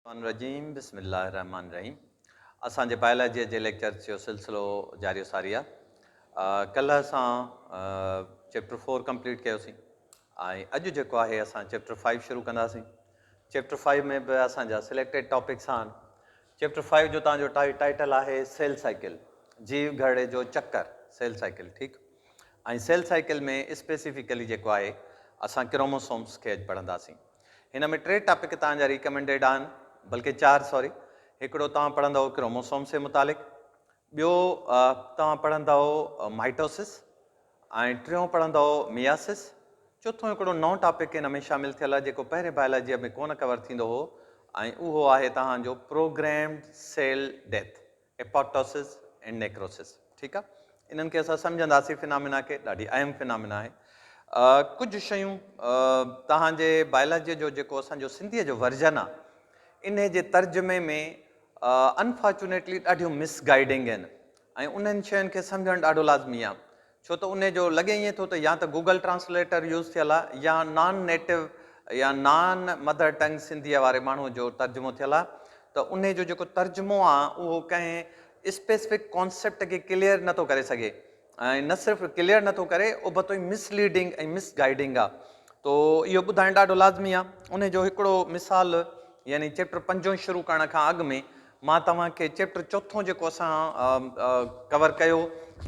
الرحمٰن الرحيم بسم الله الرحمٰن الرحيم اسان جي بائلاجيء جي ليڪچرز جو سلسلو جاري و ساري آ ڪلهه اسان چيپٽر فور ڪمپليٽ ڪيوسين ۽ اڄ جيڪو آهي اسان چيپٽر فائيو شروع ڪنداسين چيپٽر فائيو ۾ به اسان جا سليڪٽيڊ ٽاپڪس آهن چيپٽر فائيو جو تان جو ٽائيٽل آهي سيل سائيڪل جيو گهرڙي جو چڪر سيل سائيڪل ٺيڪ ۽ سيل سائيڪل ۾ اسپيسيفڪلي جيڪو آهي اسان ڪروموسومس کي اڄ پڙهنداسين هن ۾ ٽي ٽاپڪ توهان جا ريڪمينڊيڊ آهن، بلڪه چار سوري، هڪڙو توهان پڙهندؤ ڪروموسومز جي متعلق، ٻيو توهان پڙهندؤ مائيٽوسس ۽ ٽيون پڙهندؤ مياسس، چوٿون هڪڙو نئون ٽاپڪ هن ۾ شامل ٿيل آهي جيڪو پهرين بائلاجيء ۾ ڪونه ڪور ٿيندو هو ۽ اهو آهي توهان جو پروگريمڊ سيل ڊيٿ ايپوپٽوسس ۽ نيڪروسس ٺيڪ آ انهن کي اسان سمجهنداسين فنامنا کي ڏاڍي اهم فنامنا آهي ڪجهه شيون توهان جي بايولاجي جو جيڪو اسان جو سنڌي جو ورجن آ انهي جي ترجمي ۾ انفارچونيٽلي ڏاڍيون مس گائيڊنگ آهن ۽ انهن شين کي سمجهڻ ڏاڍو لازمي آ ڇو ته انهي جو لڳي ائين ٿو ته يا ته گوگل ٽرانسليٽر يوز ٿيل آ يا نان نيٽو يا نان مڌر ٽنگ سنڌيء واري ماڻهوء جو ترجمو ٿيل آ ته انهي جو جيڪو ترجمو آ اهو ڪنهن اسپيسفڪ ڪانسيپٽ کي ڪليئر نه ٿو ڪري سگهي ۽ نه صرف ڪليئر نه ٿو ڪري ابتو ئي مس ليڊنگ ۽ مس گائيڊنگ آ تو اهو ٻڌائڻ ڏاڍو لازمي آ انهي جو هڪڙو مثال يعني چيپٽر پنجون شروع ڪرڻ کان اڳ ۾ مان توهان کي چيپٽر چوٿون جيڪو اسان ڪور ڪيو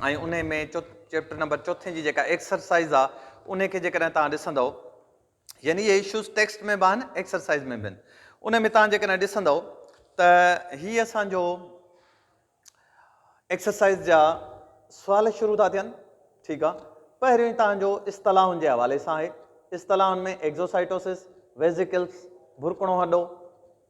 ۽ انهي ۾ چيپٽر نمبر چوٿين جي جيڪا ايڪسرسائز آ انهي کي جيڪڏهن توهان ڏسندؤ يعني اهي اشوز ٽيڪسٽ ۾ به آهن ايڪسرسائز ۾ به آهن انهي ۾ توهان جيڪڏهن ڏسندؤ ته هي اسان جو ايڪسرسائز جا سوال شروع ٿا ٿين ٺيڪ آ پهريون ئي توهان جو اصطلاحن جي حوالي سان آهي اصطلاحن ۾ ايڪزوسائٽوسس ويزيڪلس برڪڻو هڏو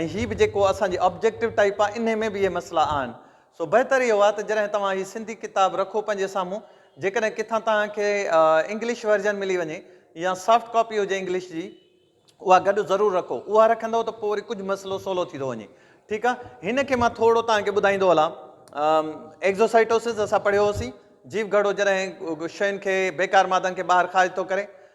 ۽ هي به جيڪو اسان جي آبجيڪٽو ٽائيپ آ انهي ۾ به اهي مسئلا آهن سو بهتر اهو آ ته جڏهن توهان هي سنڌي ڪتاب رکو پنهنجي سامهون جيڪڏهن ڪٿان توهان کي انگلش ورجن ملي وڃي يا سافٽ ڪاپي هجي انگلش جي اها گڏ ضرور رکو اها رکندو ته پوء وري ڪجهه مسئلو سولو ٿي ٿو وڃي ٺيڪ آ هن کي مان ٿورڙو توهان کي ٻڌائيندو هلان ايگزوسائٽوسس اسان پڙهيو هوسين جيو گهڙو جڏهن شين کي بيڪار مادن کي ٻاهر خارج ٿو ڪري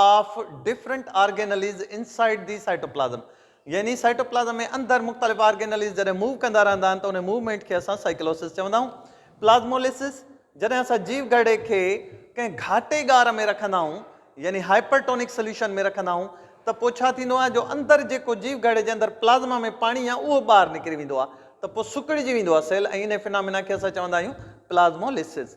of different organelles inside the cytoplasm يعني سائٽوپلازم ۾ اندر مختلف آرگينليز جڏهن موو ڪندا رهندا آهن ته انهي موومينٽ کي اسان سائيڪلوسس چوندا آهيون پلازموليسس جڏهن اسان جيو گهڙي کي ڪنهن گهاٽي ڳار ۾ رکندا آهيون يعني هائپرٽونڪ سليوشن ۾ رکندا آهيون ته پو ڇا ٿيندو آهي جو اندر جيڪو جيو گهڙي جي اندر پلازما ۾ پاڻي آهي اهو ٻاهر نڪري ويندو آهي ته پو سڪڙجي ويندو آهي سيل ۽ انهي فنامنا کي اسان چوندا آهيون پلازموليسس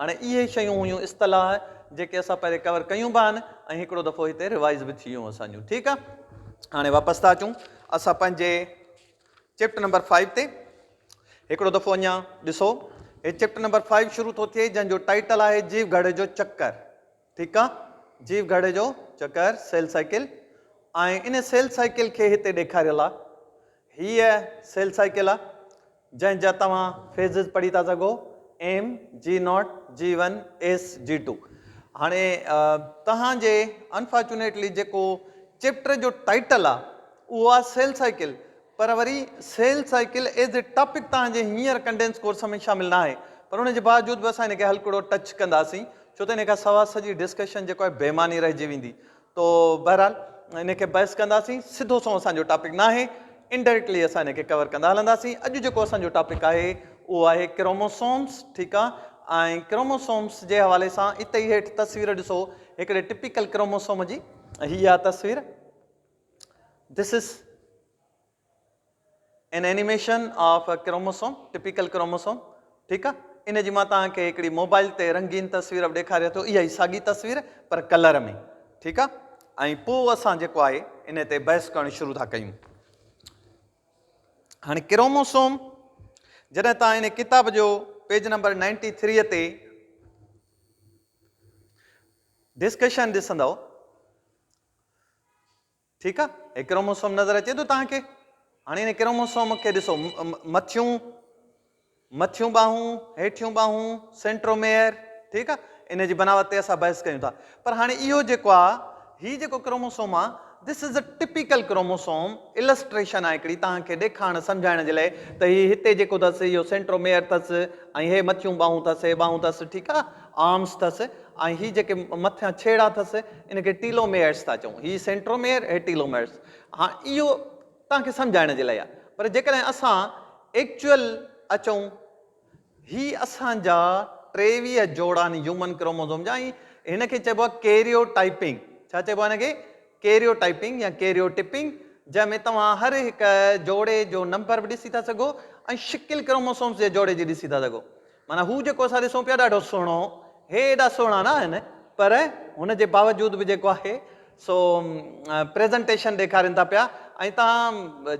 هاڻي اهي ئي شيون هيون اصطلاح جيڪي اسان پهرين ڪور ڪيون به آهن ۽ هڪڙو دفعو هتي ريوائز به ٿيون اسان جون ٺيڪ آهي هاڻي واپس ٿا اچون اسان پنهنجي چيپٽر نمبر فائيو تي هڪڙو دفعو اڃا ڏسو هي چيپٽر نمبر فائيو شروع ٿو ٿئي جنهن جو ٽائيٽل آهي جيو گهڙ جو چڪر ٺيڪ آ جيو گهڙي جو چڪر سيل سائيڪل ۽ ان سيل سائيڪل کي هتي ڏيکاريل آ هيء سيل سائيڪل آ جنهن جا توهان فيزز پڙهي ٿا سگهو M G naught G one S G two هاڻي توهان جي انفارچونيٽلي جيڪو چيپٽر جو ٽائيٽل آ اهو آ سيل سائيڪل پر وري cell cycle as a topic توهان جي هينئر ڪنڊينس ڪورس ۾ شامل ناهي پر ان جي باوجود به اسان ان کي هلڪڙو ٽچ ڪنداسين ڇو ته ان کان سوا سڄي ڊسڪشن جيڪو آهي بي معني رهجي ويندي تو بهرحال ان کي بحث ڪنداسين سڌو سنئون اسان جو ٽاپڪ ناهي انڊائريڪٽلي اسان ان کي ڪور ڪندا هلنداسين اڄ جيڪو اسان جو ٽاپڪ آهي اهو آهي ڪروموسومس ٺيڪ آهي ۽ ڪروموسومس جي حوالي سان اتي ئي هيٺ تصوير ڏسو هڪڙي ٽپيڪل ڪروموسوم جي هي آ تصوير This is an animation of a chromosome, typical chromosome. ٺيڪ آ ان جي مان توهان کي هڪڙي موبائل تي رنگين تصوير به ڏيکاريان ٿو اها ئي ساڳي تصوير پر ڪلر ۾ ٺيڪ آ ۽ پوء اسان جيڪو آهي ان تي بحث ڪرڻ شروع ٿا ڪيون هاڻي ڪروموسوم جڏهن توهان ان ڪتاب جو پيج نمبر 93 تي ڊسڪشن ڏسندو ٺيڪ آ هي ڪروموسوم نظر اچي ٿو توهان کي هاڻي هن ڪروموسوم کي ڏسو مٿيون مٿيون ٻاهون هيٺيون ٻاهون سينٽروميئر ٺيڪ آ ان جي بناوت تي اسان بحث ڪيون ٿا پر هاڻي اهو جيڪو آ هي جيڪو ڪروموسوم آ this is a typical chromosome illustration آ هڪڙي توهان کي ڏيکارڻ سمجھائڻ جي لاء ته هي هتي جيڪو اٿس اهو سينٽروميئر اٿس ۽ هي مٿيون ٻاهون اٿس هي ٻاهون اٿس ٺيڪ آ آرمز ٿس ۽ هي جيڪي مٿيان ڇيڙا ٿس ان کي ٽيلو ميئرز ٿا چئون هي سينٽرو ميئر هي ٽيلو ميئرز هاڻ اهو توهان کي سمجهائڻ جي لاء آهي پر جيڪڏهن اسان ايڪچوئل اچون هي اسان جا ٽيويهه جوڙا آهن هيومن ڪروموزوم جا ۽ هن کي چئبو آهي ڪيريو ٽائپنگ ڇا چئبو آهي هن کي ڪيريو ٽائپنگ يا ڪيريو ٽپنگ جنهن ۾ توهان هر هڪ جوڙي جو نمبر به ڏسي ٿا سگهو ۽ شڪل ڪروموسومز جي جوڙي جي ڏسي ٿا سگهو معنيٰ هو جيڪو اسان ڏسون پيا ڏاڍو سهڻو، هي ايڏا سهڻا نه آهن پر هن جي باوجود به جيڪو آهي سو پريزنٽيشن ڏيکارين ٿا پيا ۽ توهان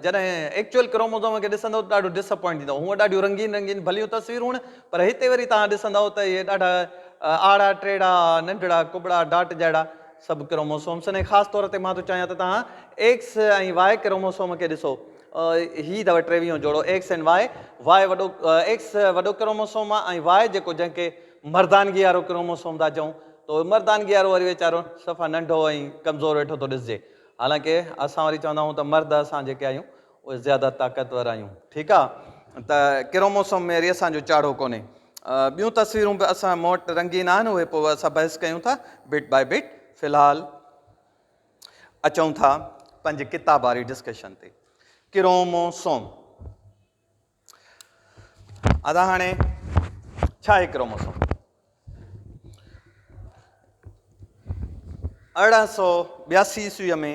جڏهن ايڪچوئل ڪروموزوم کي ڏسندو ته ڏاڍو ڊس اپوائنٽ ٿيندو هونء ڏاڍيون رنگين رنگين ڀليون تصويرون هن پر هتي وري توهان ڏسندو ته اهي ڏاڍا آڙا ٽيڙا ننڍڙا ڪٻڙا ڊاٽ جهڙا سڀ ڪروموسومس آهن ۽ خاص طور تي مان ٿو چاهيان ته توهان ايڪس ۽ واء ڪروموسوم کي ڏسو هي اٿو ٽيويهون جوڙو ايڪس ۽ واء، واء وڏو ايڪس وڏو ڪروموسوم آ ۽ واء جيڪو جنهن کي مردانگي وارو ڪروموسوم ٿا چئون تو مردانگي وارو وري ويچارو صفا ننڍو ۽ ڪمزور ويٺو ٿو ڏسجي حالانڪه اسان وري چوندا آهيون ته مرد اسان جيڪي آهيون اهي زياده طاقتور آهيون ٺيڪ آ ته ڪروموسوم ۾ وري اسان جو چاڙهو ڪونهي ٻيون تصويرون به اسان مون وٽ رنگين آهن اهي پوء اسان بحث ڪيون ٿا بٽ باء بٽ في الحال اچون ٿا پنهنجي ڪتاب واري ڊسڪشن تي ڪرومو سوم ادا هاڻي ڇا آهي ڪرومو سوم ارڙهن سو ٻياسي عيسويء ۾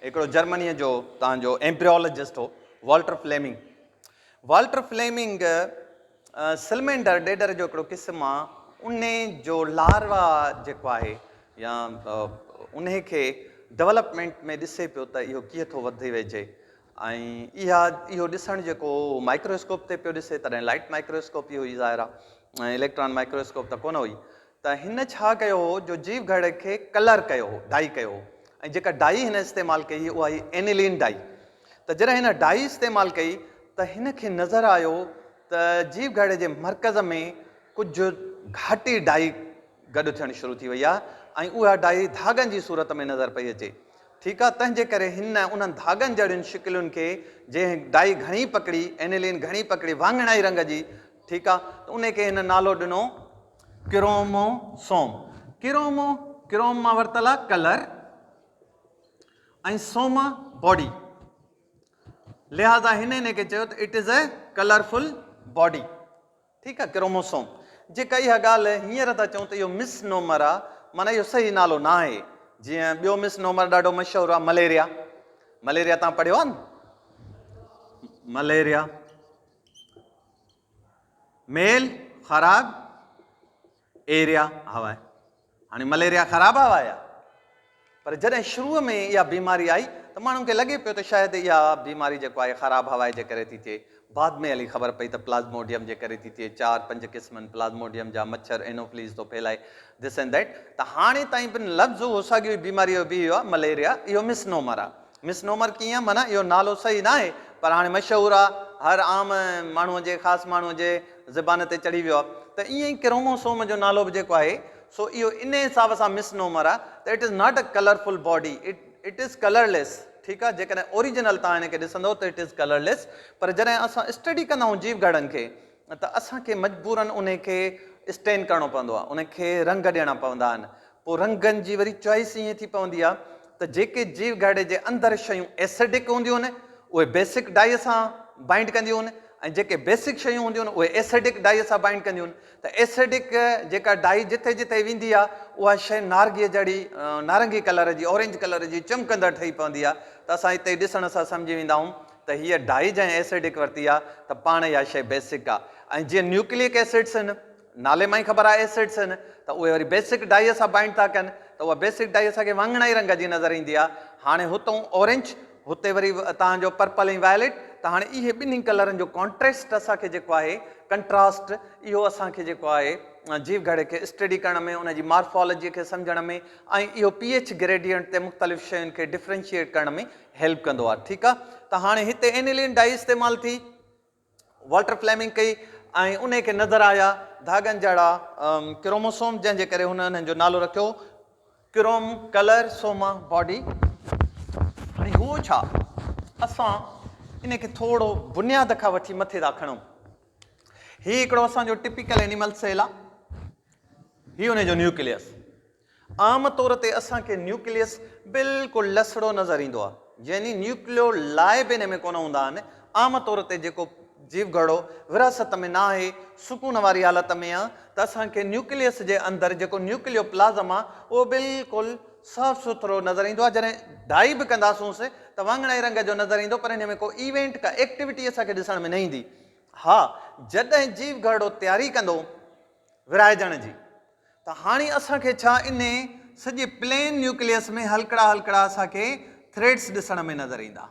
هڪڙو جرمنيء جو تان جو ايمپريولوجسٽ هو Walter Fleming Walter Fleming salamander ڏيڏر جو هڪڙو قسم آ، انهي جو لاروا جيڪو آهي يا انهي کي ڊولپمينٽ ۾ ڏسي پيو ته اهو ڪيئن ٿو وڌي ويجهي ۽ اها اهو ڏسڻ جيڪو مائڪرواسڪوپ تي پيو ڏسي تڏهن لائٽ مائڪرواسڪوپ ئي هئي ظاهر آ اليڪٽران مائڪرواسڪوپ ته ڪونه هئي ته هن ڇا ڪيو هو جو جيو گهڙ کي ڪلر ڪيو هو، ڊائي ڪيو هو ۽ جيڪا ڊائي هن استعمال ڪئي هئي اها هئي اينيلين ڊائي ته جڏهن هن ڊائي استعمال ڪئي ته هن کي نظر آيو ته جيو گهڙ جي مرڪز ۾ ڪجهه گهاٽي ڊائي گڏ ٿيڻ شروع ٿي وئي آهي ۽ اها ڊائي ڌاڳن جي صورت ۾ نظر پئي اچي ٺيڪ آهي تنهن جي ڪري هن انهن ڌاڳن جهڙين شڪلين کي جنهن ڊائي گهڻي پڪڙي اينيلين گهڻي پڪڙي واڱڻائي رنگ جي ٺيڪ آهي ته ان کي هن نالو ڏنو ڪرومو سوم، Chromo، ڪروم مان ورتل آ ڪلر ۽ سوم باڊي لهذا هن ان کي چيو ته it is a colourful body ٺيڪ آ ڪرومو سوم جيڪا اها ڳالهه هينئر ٿا چئون ته اهو مس نومر آ معنيٰ اهو صحيح نالو نه آهي جيئن ٻيو مس نومر ڏاڍو مشهور آ مليريا مليريا تان پڙهيو آ نه مليريا ميل خراب ايريا هوا هاڻي مليريا خراب هوا آهي پر جڏهن شروع ۾ اها بيماري آئي ته ماڻهن کي لڳي پيو ته شايد اها بيماري جيڪو آهي خراب هوا جي ڪري ٿي ٿئي بعد ۾ هلي خبر پئي ته پلازموڊيم جي ڪري ٿي ٿئي چار پنج قسمن پلازموڊيم جا مڇر انوفليز ٿو ڦهلائي دس اينڊ ديٽ ته هاڻي تائين بن لفظ هو ساڳيو بيماري جو به اهو مليريا اهو مسنومر آهي مس نومر ڪيئن معنيٰ اهو نالو صحيح ناهي پر هاڻي مشهور آ هر عام ماڻهو جي خاص ماڻهو جي زبان تي چڙهي ويو آ ته ائين ئي ڪرومو سوم جو نالو به جيڪو آهي سو اهو انهي حساب سان مس نومر آ ته it is not a colourful body it is colour ليس ٺيڪ آ جيڪڏهن اوريجنل توهان هن کي ڏسندو ته اٽ از ڪلر ليس پر جڏهن اسان اسٽڊي ڪندا آهيون جيو گهڙن کي ته اسان کي مجبوراً انهي کي اسٽين ڪرڻو پوندو آهي انهي کي رنگ ڏيڻا پوندا آهن پوء رنگن جي وري چوائس ائين ٿي پوندي آهي ته جيڪي جيو گهرڙي جي اندر شيون ايسڊڪ هونديون آهن اهي بيسڪ ڊائي سان بائنڊ ڪنديون آهن ۽ جيڪي بيسڪ شيون هونديون آهن اهي ايسڊڪ ڊائي سان بائنڊ ڪنديون آهن ته ايسڊڪ جيڪا ڊائي جتي جتي ويندي آهي اها شيء نارگي جهڙي نارنگي ڪلر جي اورينج ڪلر جي چمڪندڙ ٺهي پوندي آهي ته اسان هتي ڏسڻ سان سمجهي ويندا آهيون ته هيء ڊائي جنهن ايسڊڪ ورتي آ ته پاڻ اها شيء بيسڪ آ ۽ جيئن نيوڪليڪ ايسڊس هن، نالي مان ئي خبر آ ايسڊس هن، ته اهي وري بيسڪ ڊائيء سان بائنڊ ٿا ڪن ته اها بيسڪ ڊائي اسان کي واڱڻائي رنگ جي نظر ايندي آ. هاڻي هتئون اورينج، هتي وري توهان جو پرپل ۽ وائليٽ ته هاڻي اهي ٻنهي ڪلرن جو ڪانٽريسٽ اسان کي جيڪو آهي، ڪنٽراسٽ، اهو اسان کي جيڪو آهي جيو گهڙي کي اسٽڊي ڪرڻ ۾ ان جي مارفالاجيء کي سمجهڻ ۾ ۽ اهو پي ايڇ گريڊيئنٽ تي مختلف شين کي ڊفرينشيئيٽ ڪرڻ ۾ هيلپ ڪندو آهي ٺيڪ آهي ته هاڻي هتي انيلين ڊائي استعمال ٿي والٽر فليمنگ ڪئي ۽ انهي کي نظر آيا ڌاڳن جهڙا ڪروموسوم جنهن جي ڪري هن انهن جو نالو رکيو ڪروم ڪلر سوما باڊي هاڻي هو ڇا اسان ان کي ٿورو بنياد کان وٺي مٿي ٿا کڻون هي هڪڙو اسان جو ٽپيڪل انيمل سيل آهي هي ان جو نيوڪليس عام طور تي اسان کي نيوڪليس بلڪل لسڙو نظر ايندو آهي، يعني نيوڪليو لائي به ان ۾ ڪونه هوندا آهن، عام طور تي جيڪو جيوگهڙو ورهاست ۾ ناهي، سڪون واري حالت ۾ آهي ته اسان کي نيوڪليس جي اندر جيڪو نيوڪليو پلازم آهي اهو بلڪل صاف سٿرو نظر ايندو آهي، جڏهن ڊائي به ڪنداسونس ته واڱڻائي رنگ جو نظر ايندو پر ان ۾ ڪو ايونٽ ڪا ايڪٽيوٽي اسان کي ڏسڻ ۾ نه ايندي، ها جڏهن جيوگهڙو تياري ڪندو ورهائجڻ جي ته هاڻي اسان کي ڇا انهي سڄي پلين نيوڪليس ۾ هلڪڙا هلڪڙا اسان کي ٿريڊس ڏسڻ ۾ نظر ايندا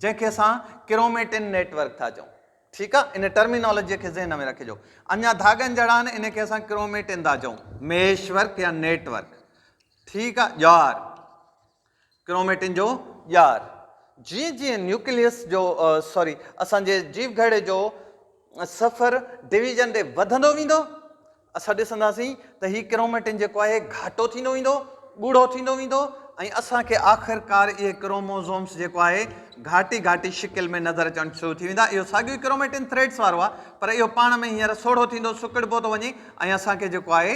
جنهن کي اسان ڪروميٽن نيٽ ورڪ ٿا چئون ٺيڪ آ ان ٽرمينالوجي کي ذهن ۾ رکجو اڃا ڌاڳن جهڙا آهن ان کي اسان ڪروميٽن ٿا چئون ميش ورڪ يا نيٽ ورڪ ٺيڪ آ ڄار ڪروميٽن جو ڄار، جيئن جيئن نيوڪليس جو سوري اسان جي جيوگهڙي جو سفر ڊويزن ڏي وڌندو ويندو اسان ڏسنداسين ته هي ڪروميٽن جيڪو آهي گهاٽو ٿيندو ويندو ڳوڙهو ٿيندو ويندو ۽ اسان کي آخر ڪار اهي ڪروموزومس جيڪو آهي گهاٽي گهاٽي شڪل ۾ نظر اچڻ شروع ٿي ويندا اهو ساڳيو ئي ڪروميٽن ٿريڊس وارو آهي پر اهو پاڻ ۾ هينئر سوڙهو ٿيندو سڪڙبو ٿو وڃي ۽ اسان کي جيڪو آهي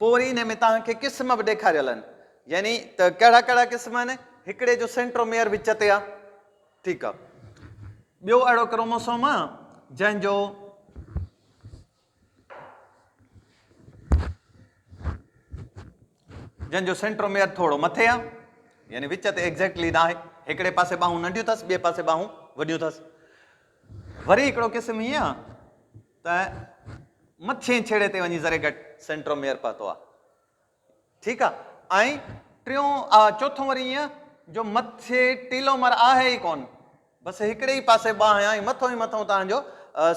پوء وري انهي ۾ توهان کي قسم به ڏيکاريل آهن يعني ته ڪهڙا ڪهڙا قسم آهن هڪڙي جو سينٽروميئر وچ تي آهي ٺيڪ آهي ٻيو اهڙو ڪروموسوم آهي جنهن جو جن جو سينٽروميئر ٿورو مٿي آ يعني وچ تي ايگزيڪٽلي نه آهي هڪڙي پاسي ٻاهون ننڍيون اٿس ٻئي پاسي ٻاهون وڏيون اٿس وري هڪڙو قسم هي آ ته مٿئين ڇيڙي تي وڃي ذري گهٽ سينٽروميئر پهتو آهي. ٺيڪ آهي. ۽ ٽيون چوٿون وري ايئن جو مٿي ٽيلومر آهي ئي ڪونه. بس هڪڙي ئي پاسي ٻانهن آهي ۽ مٿئون ئي مٿئون تهان جو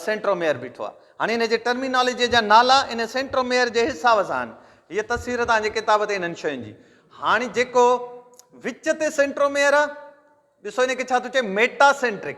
سينٽروميئر بيٺو آهي. هاڻي هن جي ٽرمينالاجيء جا نالا ان سينٽروميئر جي حساب سان آهن. هيء تصوير تهان جي ڪتاب تي انهن شين جي. هاڻي جيڪو وچ تي سينٽروميئر آهي، ڏسو ان کي ڇا ٿو چئي ميٽاسينٽرڪ.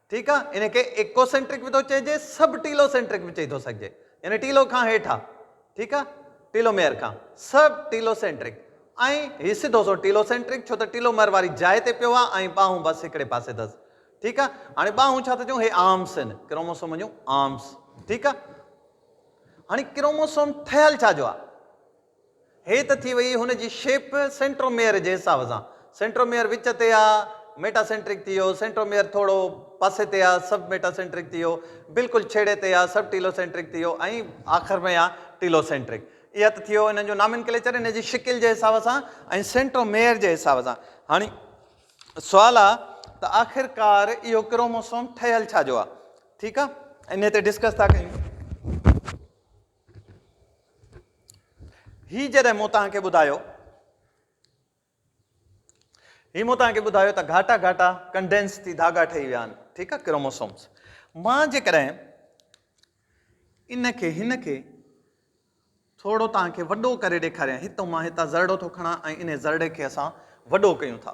ٺيڪ آ ان کي ايڪو سينٽرڪ به ٿو چئجي سب ٽيلو سينٽرڪ به چئي ٿو سگهجي يعني ٽيلو کان هيٺ آ ٺيڪ آ ٽيلو ميئر کان سب ٽيلو سينٽرڪ ۽ هي سڌو سو ٽيلو سينٽرڪ ڇو ته ٽيلو مر واري جاء تي پيو آ ۽ ٻانهون بس هڪڙي پاسي اٿس ٺيڪ آ هاڻي ٻانهون ڇا ٿا چون هي آرمس آهن ڪروموسوم جون آرمس ٺيڪ آ هاڻي ڪروموسوم ٺهيل ڇا جو آ هي ته ٿي وئي هن جي شيپ سينٽروميئر جي حساب سان. سينٽروميئر وچ تي آ، ميٽا سينٽرڪ ٿي ويو، سينٽروميئر ٿورو پاسي تي آ، سب ميٽا سينٽرڪ ٿي ويو، بلڪل ڇيڙي تي آ، سب ٽيلو سينٽرڪ ٿي ويو ۽ آخر ۾ آ ٽيلو سينٽرڪ. اها ته ٿي ويو انهن جو نامينڪليچر ان جي شڪل جي حساب سان ۽ سينٽروميئر جي حساب سان. هاڻي سوال آ ته آخرڪار اهو ڪروموسوم ٺهيل ڇا جو آ؟ ٺيڪ آ انهي تي ڊسڪس ٿا ڪيون. هي جڏهن مون توهان کي ٻڌايو هي مون توهان کي ٻڌايو ته گهاٽا گهاٽا ڪنڊينس ٿي ڌاڳا ٺهي ويا آهن ٺيڪ آهي ڪروموسومس مان جيڪڏهن ان کي هن کي ٿورو توهان کي وڏو ڪري ڏيکاريان هتو مان هتان زرڙو ٿو کڻان ۽ ان زرڙي کي اسان وڏو ڪيون ٿا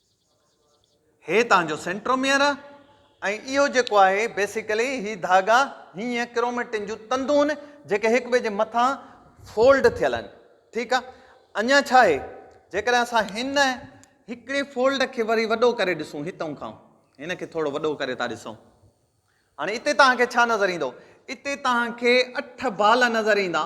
هي تان جو سينٽروميئر ۽ اهو جيڪو آهي بيسيڪلي هي ڌاڳا هيئن ڪروميٽن جون تندون جيڪي هڪ ٻئي جي مٿان فولڊ ٿيل آهن ٺيڪ آهي اڃا ڇا آهي جيڪڏهن اسان هن هڪڙي فولڊ کي وري وڏو ڪري ڏسون هتون کان هن کي ٿورو وڏو ڪري ٿا ڏسون هاڻي اتي توهان کي ڇا نظر ايندو اتي توهان کي اٺ بال نظر ايندا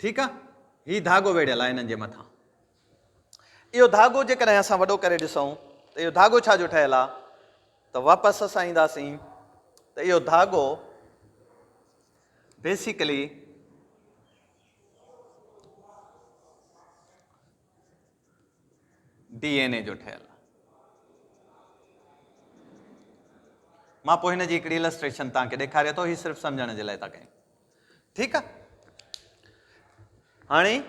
ٺيڪ آ هي ڌاڳو ويڙهيل آ هنن جي مٿان اهو ڌاڳو جيڪڏهن اسان وڏو ڪري ڏسون ته اهو ڌاڳو ڇا جو ٺهيل آ ته واپس اسان اينداسين ته اهو ڌاڳو بيسيڪلي ڊي اين اي جو ٺهيل آهي. مان پوء هن جي هڪڙي السٽريشن توهان کي ڏيکاري ٿو، هي صرف سمجهڻ جي لاء ٿا ڪيون. ٺيڪ آهي. هاڻي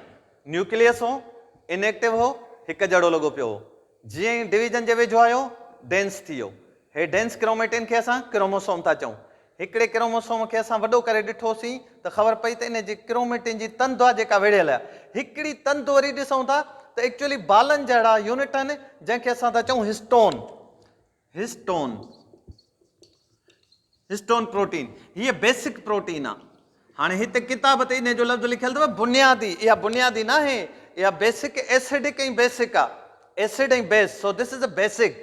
نيوڪليس هو، ان ايڪٽو هو، هڪ جهڙو لڳو پيو هو. جيئن ئي ڊويزن جي ويجهو آيو، ڊينس ٿي ويو. هي ڊينس ڪروميٽين کي اسان ڪروموسوم ٿا چئون. هڪڙي ڪروموسوم کي اسان وڏو ڪري ڏٺوسين ته خبر پئي ته ان جي ڪروميٽن جي تند آ جيڪا ويڙهيل آ. هڪڙي تند وري ڏسون ٿا ته ايڪچوئلي بالن جهڙا يونٽ آهن جنهن کي اسان ٿا چئون هسٽون، Histone، Histone پروٽين. هيء بيسڪ پروٽين آ. هاڻي هتي ڪتاب تي انهي جو لفظ لکيل اٿو بنيادي اها بنيادي ناهي اها بيسڪ ايسڊڪ ۽ بيسڪ آ acid ۽ base so this is a basic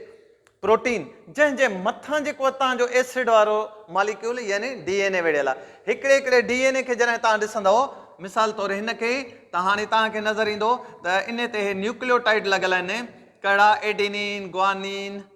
protein جنهن جي مٿان جيڪو اتان جو ايسڊ وارو ماليڪيول يعني ڊي اين اي ويڙهيل آ هڪڙي هڪڙي ڊي اين اي کي جڏهن توهان ڏسندؤ مثال طور هن کي ته هاڻي توهان کي نظر ايندو ته انهي تي هي نيوڪليوٽائيڊ لڳل آهن ڪهڙا adenine guanine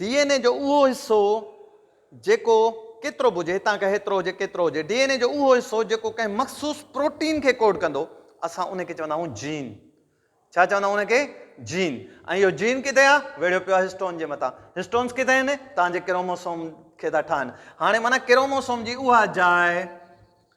D N A جو اهو حصو جيڪو ڪيترو به هجي، هتان کان هيترو هجي ڪيترو هجي، ڊي اين اي جو اهو حصو جيڪو ڪنهن مخصوص پروٽين کي ڪوڊ ڪندو، اسان ان کي چوندا آهيون جين. ڇا چوندا آهيون ان کي؟ جين. ۽ اهو جين ڪٿي آهي؟ ويڙهيو پيو آهي هسٽون جي مٿان. هسٽونز ڪٿي آهن؟ توهان جي ڪروموسوم کي ٿا ٺاهن. هاڻي معنيٰ ڪروموسوم جي اها جاء.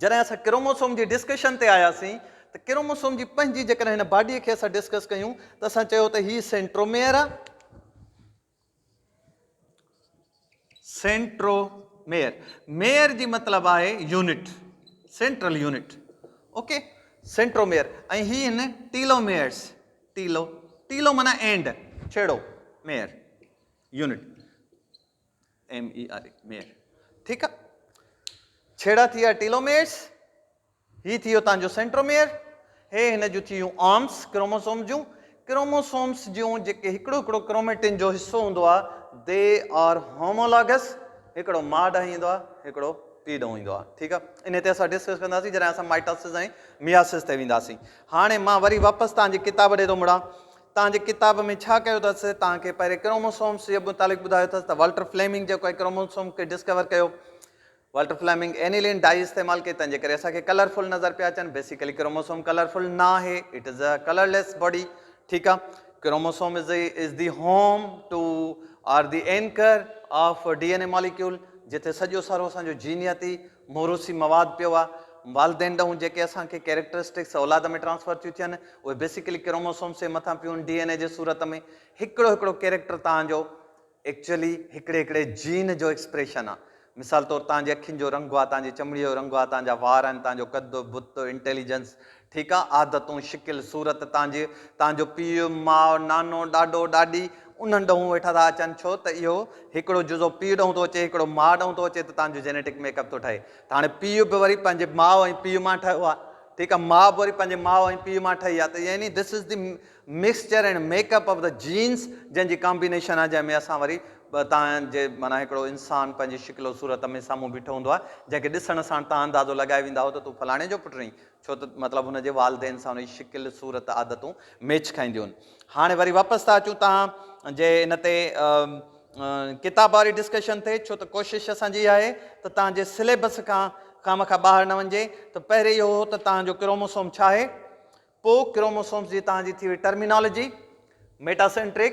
جڏهن اسان ڪروموسوم جي ڊسڪشن تي آياسين ته ڪروموسوم جي پنهنجي جيڪڏهن هن باڊي کي اسان ڊسڪس ڪيون ته اسان چيو ته هي سينٽروميئر آ سينٽرو ميئر ميئر جي مطلب آهي unit central unit okay centromere ۽ هي هن ٽيلو ميئرس ٽيلو ٽيلو مانا اينڊ ڇيڙو mere unit M E R E, mere, ٺيڪ آ. ڇيڙا ٿي ويا ٽيلوميئرس، هي ٿي ويو توهان جو سينٽروميئر، هي هن جون ٿي ويون آرمس ڪروموسوم جون. ڪروموسومس جون جيڪي هڪڙو هڪڙو ڪروميٽن جو حصو هوندو آ، دي آر هومولاگس، هڪڙو ماء ڏانهن ايندو آ، هڪڙو پيء ڏانهن ايندو آ، ٺيڪ آ. انهي تي اسان ڊسڪس ڪنداسين جڏهن اسان مائٽاسز ۽ مياسز تي وينداسين. هاڻي مان وري واپس توهان جي ڪتاب ڏي ٿو مڙان، توهان جي ڪتاب ۾ ڇا ڪيو اٿس؟ توهان کي پهرين ڪروموسومس جي متعلق ٻڌايو اٿس ته والٽر فليمنگ جيڪو اهي ڪروموسوم کي ڊسڪور ڪيو. والٽر فليمنگ اينيلين ڊائي استعمال ڪئي تنهن جي ڪري اسان کي ڪلر فل نظر پيا اچن. بيسيڪلي ڪروموسوم ڪلر فل نه آهي. It is a colourless body. ٺيڪ آ. Chromosome is is the home to are the anchor of D N A molecule جتي سڄو سارو اسان جو جينياتي موروثي مواد پيو آ، والدين ڏانهن جيڪي اسان کي ڪيريڪٽرسٽڪس اولاد ۾ ٽرانسفر ٿيون ٿين اهي بيسيڪلي ڪروموسومس جي مٿان پيون ڊي اين اي جي صورت ۾ هڪڙو هڪڙو ڪيريڪٽر توهان جو ايڪچولي هڪڙي هڪڙي جين جو ايڪسپريشن آ مثال طور توهان جي اکين جو رنگ آ توهان جي چمڙي جو رنگ آ توهان جا وار آهن توهان جو قد بت انٽيليجنس ٺيڪ آ، عادتون، شڪل، صورت تان جي، تان جو پيء، ماء، نانو، ڏاڏو، ڏاڏي، انهن ڏنهون ويٺا ٿا اچن، ڇو ته اهو هڪڙو جزو پيء ڏنهون ٿو اچي، هڪڙو ماء ڏنهون ٿو اچي ته تان جو جينيٽڪ ميڪ اپ ٿو ٺهي. ته هاڻي پيء به وري پنهنجي ماء ۽ پيء مان ٺهيو آ، ٺيڪ آ، ماء به وري پنهنجي ماء ۽ پيء مان ٺهي آ، ته يعني this is the mixture and make up of the genes, جنهن جي ڪامبينيشن آ، جنهن ۾ اسان وري تان جي معنيٰ هڪڙو انسان پنهنجي شڪل و صورت ۾ سامهون بيٺو هوندو آ، جنهن کي ڏسڻ ساڻ تان اندازو لڳائي ويندا هئو ته تون فلاڻي جو پٽ رهين، ڇو ته مطلب هن جي والدين سان هن جي شڪل، صورت، عادتون ميچ کائينديون هن. هاڻي وري واپس ٿا اچون توهان جي ان تي ڪتاب واري ڊسڪشن تي ڇو ته ڪوشش اسان جي اها آهي ته توهان جي سليبس کان خامخا ٻاهر نه وڃجي ته پهرين اهو هو ته توهان جو ڪروموسوم ڇا آهي پوء ڪروموسومس جي توهان جي ٿي وئي ٽرمينالاجي ميٽاسينٽرڪ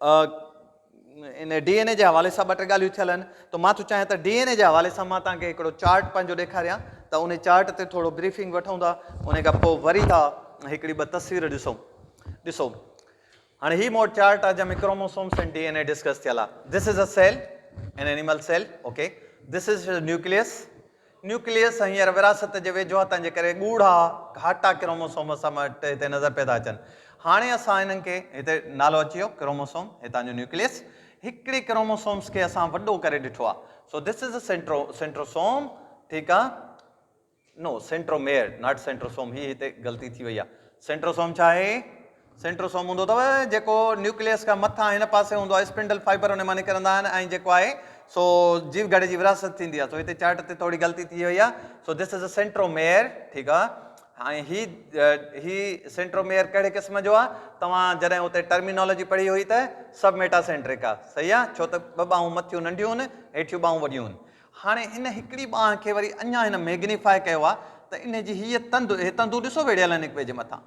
ان ڊي اين اي جي حوالي سان ٻه ٽي ڳالهيون ٿيل آهن ته مان ٿو چاهيان ته ڊي اين اي جي حوالي سان مان تان کي هڪڙو چارٽ پنهنجو ڏيکاريان ته ان چارٽ تي ٿورو بريفنگ وٺون ٿا ان کان پوء وري ٿا هڪڙي ٻه تصوير ڏسون ڏسو هاڻي هي موٽ چارٽ آهي جنهن ۾ chromosomes ۽ D N A discuss ٿيل آهي this is a cell an animal cell okay this is nucleus nucleus هينئر وراثت جي ويجهواتن جي ڪري ڳوڙها گهاٽا ڪروموسومز سان مٽ هتي نظر پيا ٿا اچن. هاڻي اسان انهن کي، هتي نالو اچي ويو ڪروموسوم، هتان جو نيوڪليس، هڪڙي ڪروموسومز کي اسان وڏو ڪري ڏٺو آهي. سو ڌس از سينٽرو، سينٽروسوم، ٺيڪ آهي. نو، سينٽروميئر، ناٽ سينٽروسوم، هي هتي غلطي ٿي وئي آهي. سينٽروسوم ڇا آهي؟ سينٽروسوم هوندو اٿو جيڪو نيوڪليس کان مٿان هن پاسي هوندو آهي اسپنڊل فائبر ان مان نڪرندا آهن ۽ جيڪو آهي سو جيو گهڙي جي وراثت ٿيندي آهي سو هتي چارٽ تي ٿوري غلطي ٿي وئي آهي سو دس از اي سينٽروميئر ٺيڪ آهي ۽ هي هي سينٽروميئر ڪهڙي قسم جو آهي توهان جڏهن اتي ٽرمينالوجي پڙهي هئي ته سب ميٽا سينٽرڪ آهي صحيح آهي ڇو ته ٻه ٻانهون مٿيون ننڍيون هن هيٺيون ٻانهون وڏيون هن هاڻي ان هڪڙي ٻانهن کي وري اڃا هن ميگنيفاء ڪيو آهي ته ان جي هيء تند هي تندون ڏسو ويڙهيل آهن هڪ ٻئي جي مٿان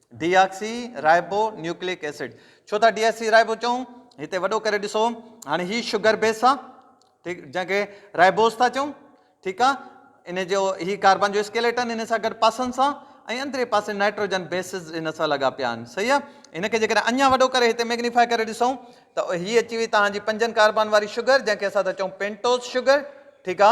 deoxyribonucleic acid ڇو ٿا ڊي آڪسي رائبو چئون هتي وڏو ڪري ڏسو هاڻي هي شگر بيس آ ٺيڪ جنهن کي رائبوز ٿا چئون ٺيڪ آ ان جو هي ڪاربان جو اسڪيليٽن ان سان گڏ پاسن سان ۽ اندري پاسي نائٽروجن بيسز ان سان لڳا پيا آهن صحيح آ ان کي جيڪڏهن اڃا وڏو ڪري هتي ميگنيفائي ڪري ڏسون ته هي اچي وئي توهان جي پنجن ڪاربان واري شگر جنهن کي اسان ٿا چئون پينٽوز شگر ٺيڪ آ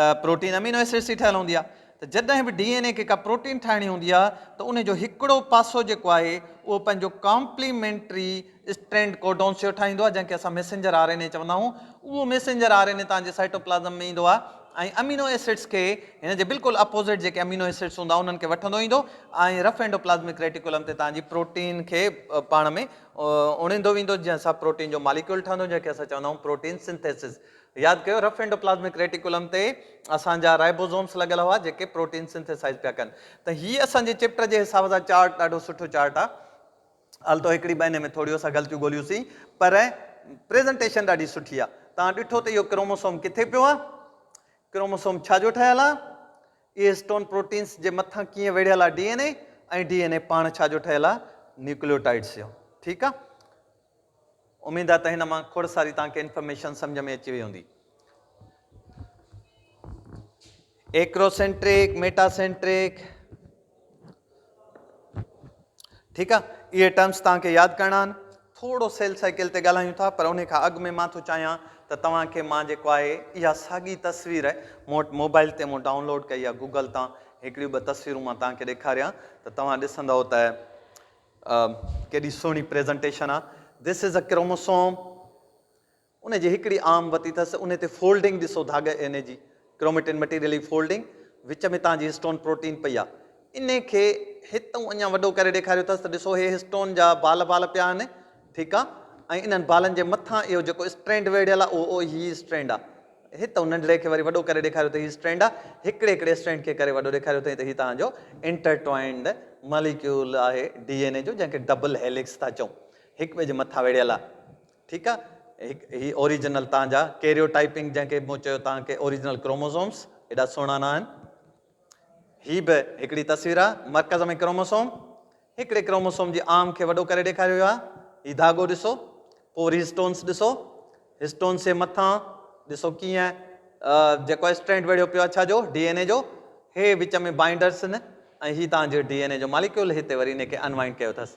ته پروٽين امينو ايسڊس جي ٺهيل هوندي آهي ته جڏهن به ڊي اين اي کي ڪا پروٽين ٺاهڻي هوندي آهي ته ان جو هڪڙو پاسو جيڪو آهي اهو پنهنجو ڪامپليمينٽري اسٽرينڊ ڪوڊونس جو ٺاهيندو آهي جنهن کي اسان ميسنجر آر اين اي چوندا آهيون اهو ميسنجر آر اين اي تهانجي سائٽوپلازم ۾ ايندو آهي ۽ امينو ايسڊس کي هن جي بلڪل اپوزٽ جيڪي امينو ايسڊس هوندا انهن کي وٺندو ايندو ۽ رف اينڊوپلازمڪ ريٽيڪولم تي تهانجي پروٽين کي پاڻ ۾ اڻيندو ويندو جنهن سان پروٽين جو ماليڪيول ٺهندو جنهن کي اسان چوندا آهيون پروٽين سنٿيسز ياد ڪيو رف اينڊوپلازمڪ ريٽيڪولم تي اسان جا رائبوزومس لڳل هئا جيڪي پروٽين سنٿيسائز پيا ڪن ته هي اسان جي چيپٽر جي حساب سان چارٽ ڏاڍو سٺو چارٽ آ التو هڪڙي ٻه هن ۾ ٿوريون سا غلطيون ڳوليون سين پر پريزنٽيشن ڏاڍي سٺي آ تان ڏٺو ته اهو ڪروموسوم ڪٿي پيو آ ڪروموسوم ڇا جو ٺهيل آ اهي اسٽون پروٽينس جي مٿان ڪيئن ويڙهيل آ D N A ۽ D N A پاڻ ڇا جو ٺهيل آ نيوڪليوٽائيڊس جو ٺيڪ آ اميد آهي ته هن مان کوڙ ساري توهان کي انفارميشن سمجهه ۾ اچي وئي هوندي. ايڪروسينٽرڪ، ميٽا سينٽرڪ ٺيڪ آ اهي ٽرمس توهان کي ياد ڪرڻا آهن. ٿورو سيل سائيڪل تي ڳالهايون ٿا پر ان کان اڳ ۾ مان ٿو چاهيان ته توهان کي مان جيڪو آهي اها ساڳي تصوير مون وٽ موبائل تي مون ڊائونلوڊ ڪئي آهي گوگل تان هڪڙيون ٻه تصويرون مان توهان کي ڏيکاريان ته توهان ڏسندئو ته ڪيڏي سهڻي پريزنٽيشن آ. This is a Chromosome ان جي هڪڙي عام وتي ٿس انهي تي فولڊنگ ڏسو ڌاڳي اين اي جي ڪروميٽن مٽيريلي فولڊنگ وچ ۾ تان جي هسٽون پروٽين پئي آ انهي کي هتئون اڃان وڏو ڪري ڏيکاريو ٿس ته ڏسو هي هسٽون جا بال بال پيا آهن ٺيڪ آ ۽ انهن بالن جي مٿان اهو جيڪو اسٽرينڊ ويڙهيل آ اهو هي اسٽرينڊ آ هت هن ننڍڙي کي وري وڏو ڪري ڏيکاريو ته هي اسٽرينڊ آ، هڪڙي هڪڙي اسٽرينڊ کي ڪري وڏو ڏيکاريو اٿئين ته هي توهان جو انٽرٽوائنڊ ماليڪيول آهي ڊي اين اي جو جنهن کي ڊبل هيلڪس ٿا چئون هڪ ٻئي جي مٿان ويڙهيل آ ٺيڪ آ هڪ هي اوريجنل توهان جا ڪيريوٽائيپنگ جنهن کي مون چيو توهان کي اوريجنل ڪروموزومس ايڏا سهڻا نه آهن. هي به هڪڙي تصوير آ مرڪز ۾ ڪروموسوم هڪڙي ڪروموسوم جي آرم کي وڏو ڪري ڏيکاريو ويو آ هي ڌاڳو ڏسو پو وري هسٽونس ڏسو هسٽونس جي مٿان ڏسو ڪيئن جيڪو اسٽرينڊ ويڙهيو پيو آ ڇا جو ڊي اين اي جو هي وچ ۾ بائنڊرس آهن ۽ هي تان جو ڊي اين اي جو ماليڪيول هتي وري ان کي انوائنڊ ڪيو اٿس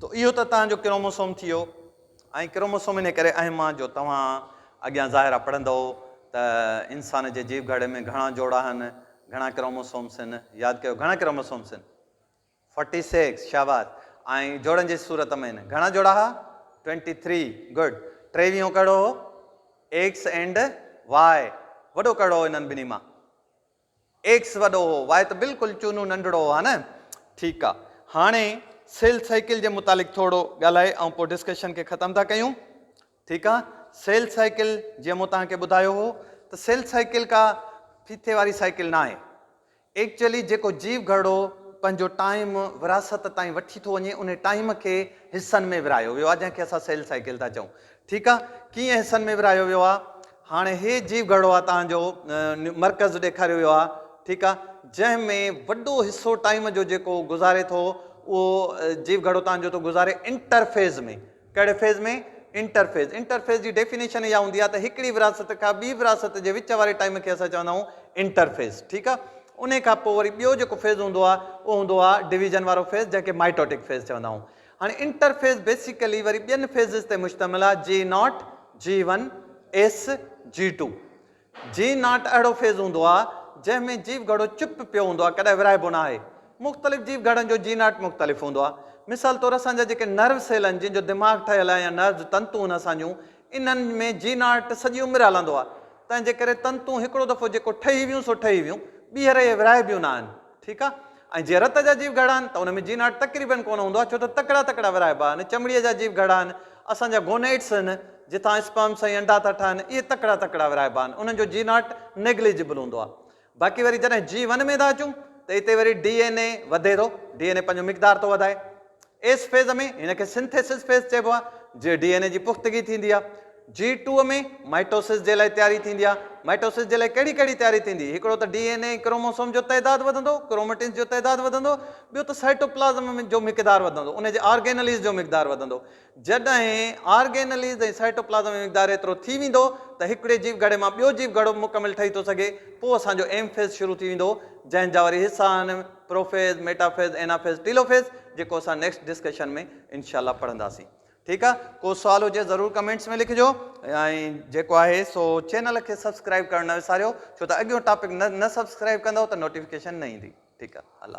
تو اهو ته توهان جو ڪروموسوم ٿيو ۽ ڪروموسوم انهي ڪري اهم آ جو توهان اڳيان ظاهرا پڙهندؤ ته انسان جي جيو گهڙي ۾ گهڻا جوڙا هن، گهڻا ڪروموسومس هن، ياد ڪيو گهڻا ڪروموسومس هن؟ فورٽي سيڪس شاباس ۽ جوڙن جي صورت ۾ هن، گهڻا جوڙا ها؟ ٽوئنٽي ٿري گڊ ٽيويهون ڪهڙو هو؟ ايڪس اينڊ واء وڏو ڪهڙو هو انهن ٻنهي مان؟ ايڪس وڏو هو واء ته بلڪل چونو ننڍڙو هو ها نه ٺيڪ آ هاڻي سيل سائيڪل جي متعلق ٿورڙو ڳالهائي ائون پو ڊسڪشن کي ختم ٿا ڪيون ٺيڪ آ سيل سائيڪل جي مون توهان کي ٻڌايو هو ته سيل سائيڪل ڪا ڦيٿي واري سائيڪل نه آهي ايڪچولي جيڪو جيو گهرڙو پنهنجو ٽائيم وراثت تائين وٺي ٿو وڃي ان ٽائيم کي حصن ۾ ورهايو ويو آ جنهن کي اسان سيل سائيڪل ٿا چئون ٺيڪ آ ڪيئن حصن ۾ ورهايو ويو آ هاڻي هي جيو گهرڙو آ توهان جو مرڪز ڏيکاريو ويو آ ٺيڪ آ جنهن ۾ وڏو حصو ٽائيم جو جيڪو گذاري ٿو اهو جيو گهرڙو توهان جو ٿو گذاري انٽرفيز ۾ ڪهڙي فيز ۾ انٽرفيز انٽرفيز جي ڊيفينيشن اها هوندي آ ته هڪڙي ورهاست کان ٻي ورهاست جي وچ واري ٽائيم کي اسان چوندا آهيون انٽرفيز ٺيڪ آ ان کان پوء وري ٻيو جيڪو فيز هوندو آ اهو هوندو آ ڊويزن وارو فيز جنهن کي مائٽوٽڪ فيز چوندا آهيون هاڻي انٽرفيس بيسيڪلي وري ٻين فيزز تي مشتمل آهي G naught, G one, S, G two. G naught اهڙو فيز هوندو آهي جنهن ۾ جيو گهڙو چپ پيو هوندو آهي ڪڏهن ورهائبو ناهي. مختلف جيو گهڙن جو جي ناٽ مختلف هوندو آهي. مثال طور اسان جا جيڪي نروس سيل آهن جن جو دماغ ٺهيل آهي يا نروس تنتون آهن اسان جون انهن ۾ جي ناٽ سڄي عمر هلندو آهي تنهن جي ڪري تنتون هڪڙو دفعو جيڪو ٺهي ويون سو ٺهي ويون ٻيهر اهي ورهائبيون ناهن. ٺيڪ آ ۽ جي رت جا جيو گهڙا آهن ته ان ۾ جين هارٽ تقريبن ڪونه هوندو آهي ڇو ته تڪڙا تڪڙا ورهائبا آهن چمڙيء جا جيو گهڙا آهن اسان جا گونئيٽس آهن جتان اسپرمس ۽ انڊا ٿا ٺهن اهي تڪڙا تڪڙا ورهائبا آهن انهن جو جين هارٽ نيگليجبل هوندو آهي باقي وري جڏهن جي ون ۾ ٿا اچون ته اتي وري ڊي اين اي وڌي ٿو ڊي اين اي پنهنجو مقدار ٿو وڌائي ايس فيز ۾ هن کي سنٿيسز فيز چئبو آهي جي ڊي اين اي جي پختگي ٿيندي آهي. جي ٽو ۾ مائٽوسز جي لاء تياري ٿيندي آهي. مائٽوسز جي لاء ڪهڙي ڪهڙي تياري ٿيندي؟ هڪڙو ته ڊي اين اي ۽ ڪروموسوم جو تعداد وڌندو، ڪروميٽنز جو تعداد وڌندو، ٻيو ته سائٽوپلازم ۾ جو مقدار وڌندو ان جي آرگينليز جو مقدار وڌندو. جڏهن آرگينليز ۽ سائٽوپلازم ۾ مقدار ايترو ٿي ويندو ته هڪڙي جيو گهڙي مان ٻيو جيو گهڙو مڪمل ٺهي ٿو سگهي پوء اسان جو ايم فيز شروع ٿي ويندو جنهن جا وري حصا آهن. پروفيز، ميٽافيز، اينافيز، ٽيلوفيز جيڪو اسان نيڪسٽ ڊسڪشن ۾ انشاء الله پڙهنداسين ٺيڪ آ ڪو سوال هجي ضرور ڪمينٽس ۾ لکجو ۽ جيڪو آهي سو چينل کي سبسڪرائب ڪرڻ نه وساريو ڇو ته اڳيون ٽاپڪ نه نه سبسڪرائب ڪندو ته نوٽيفڪيشن نه ايندي ٺيڪ آ الله